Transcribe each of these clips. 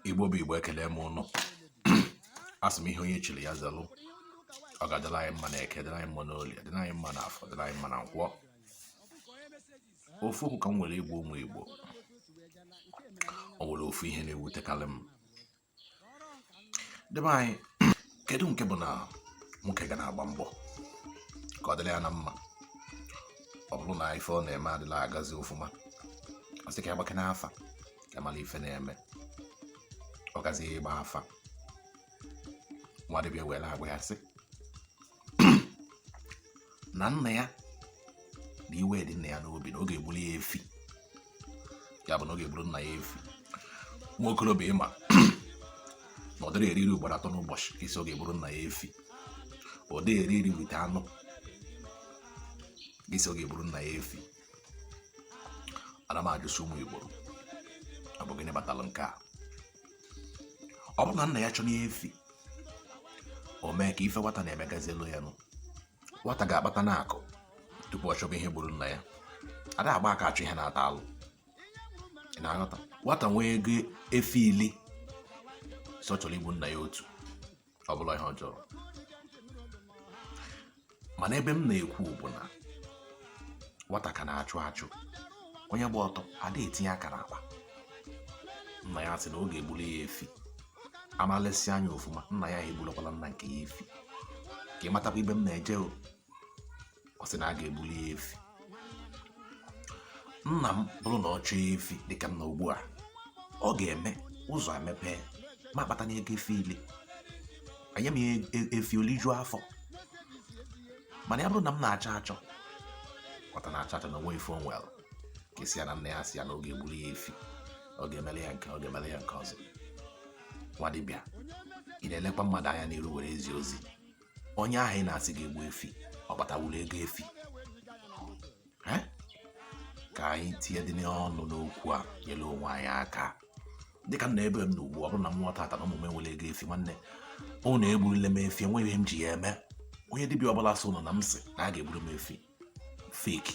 igbo bụ igbo ekelee m ụnụ asị m ihe onye chiri ya zalụ ọ ga-adịla anyị mma na eke dịla anyị mma na oli dịla anyị mma na afọ dịla anyị mma na nkwọ ofu okwu ka m nwere igbo ụmụ igbo o nwere ofu ihe na-ewutekarị m ndị be anyị kedu nke bụ na nwoke ga na-agba mbọ ka ọ dịrị ya na mma ọ bụrụ na ife ọ na-eme adịrọ agazi ofụma ọ sị ka ya gbakene afa ka mara ife na-eme ọ gazi ịgba afa nwa dibịa were agwa ya sị na nna ya na iwe dị nna ya n'obi na ọ ga-egburu ya efi ya bụ na ọ ga-egburu nna ya efi nwa okorobịa ị ma na ọ dịrọ eri nri ugboro atọ n'ụbọchị ka ị sị ọ ga-egburu nna ya efi ọ dịghị eri nri with anụ gị sị ọ ga-egburu nna ya efi ana m ajụsị ụmụ Igbo ọ bụ gịnị kpatara nke a ọ bụrụ na nna ya chọrọ efi o mee ka ife nwata na-eme gazielu ya nụ nwata ga-akpata na akụ tupu ọ chọba ihe gburu nna ya ada agba aka achụ ihe na-ata alụ na-aghọta nwata nwee ego efi ili sị ọ chọrọ igburu nna ya otu ọ bụrọ ihe ọjọọ mana ebe m na-ekwu bụ na nwata ka na-achụ achụ onye gba ọtọ adịghị etinye aka n'akpa nna ya sị na ọ ga-egbuli ya efi a na-elesi anya ofuma nna ya egbulakwala nna nke ya efi ka ị matakwa ebe m na-eje o ọ sị na a ga-egbuli ya efi nna m bụrụ na ọ chọọ efi dịka m nọ ugbu a ọ ga-eme ụzọ emepee m akpata na ego efi ili enye m e-, e-, efi o lijuo afọ mana ya bụrụ na m na-achọ achọ ọta na-achọ achọ na o nwerọ ife o nwelu ka e sị ya na nna ya sị ya na ọ ga-egburu ya efi ọ ga-emele ya nke ọ ga-emele ya nke ọzọ nwa dibịa ị na-elekwa mmadụ anya n'iru were ezi ozi onye ahụ ị na-asị ga-egbu efi ọ kpatawuru ego efi ka anyị tinyedịnụ ọnụ n'okwu a nyere onwe anyị aka dịka m nọ ebe m nọ ugbu a ọ bụrụ na m nwụọ taata na ụmụ m enwerọ ego efi nwanne ụnụ egburule m efi enweghị ihe m ji ya eme onye dibịa ọbụla sị ụnụ na m sị na a ga-egburu m efi fake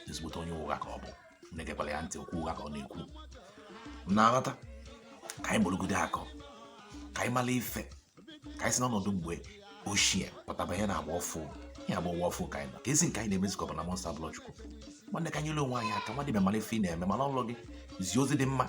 ezigbote onye ụgha ka ọ bụ egekwala ya ntị okwu ụgha ka ọ na-ekwu na-aghọta ka anyị gborogide akọ ka anyị mara ife ka anyị si n'ọnọdụ mgbe ochie pụta banye na agba ọfụ ihe agba ụwa ọfụ ka anyị nọ kezi nke anyị na-emezi ka ọ bụ na Monster Blood Chukwu nwanne ka anyị nyele onwe anyị aka nwa dibịa mara ife ị na-eme mara ọlụ gị zie ozi dị mma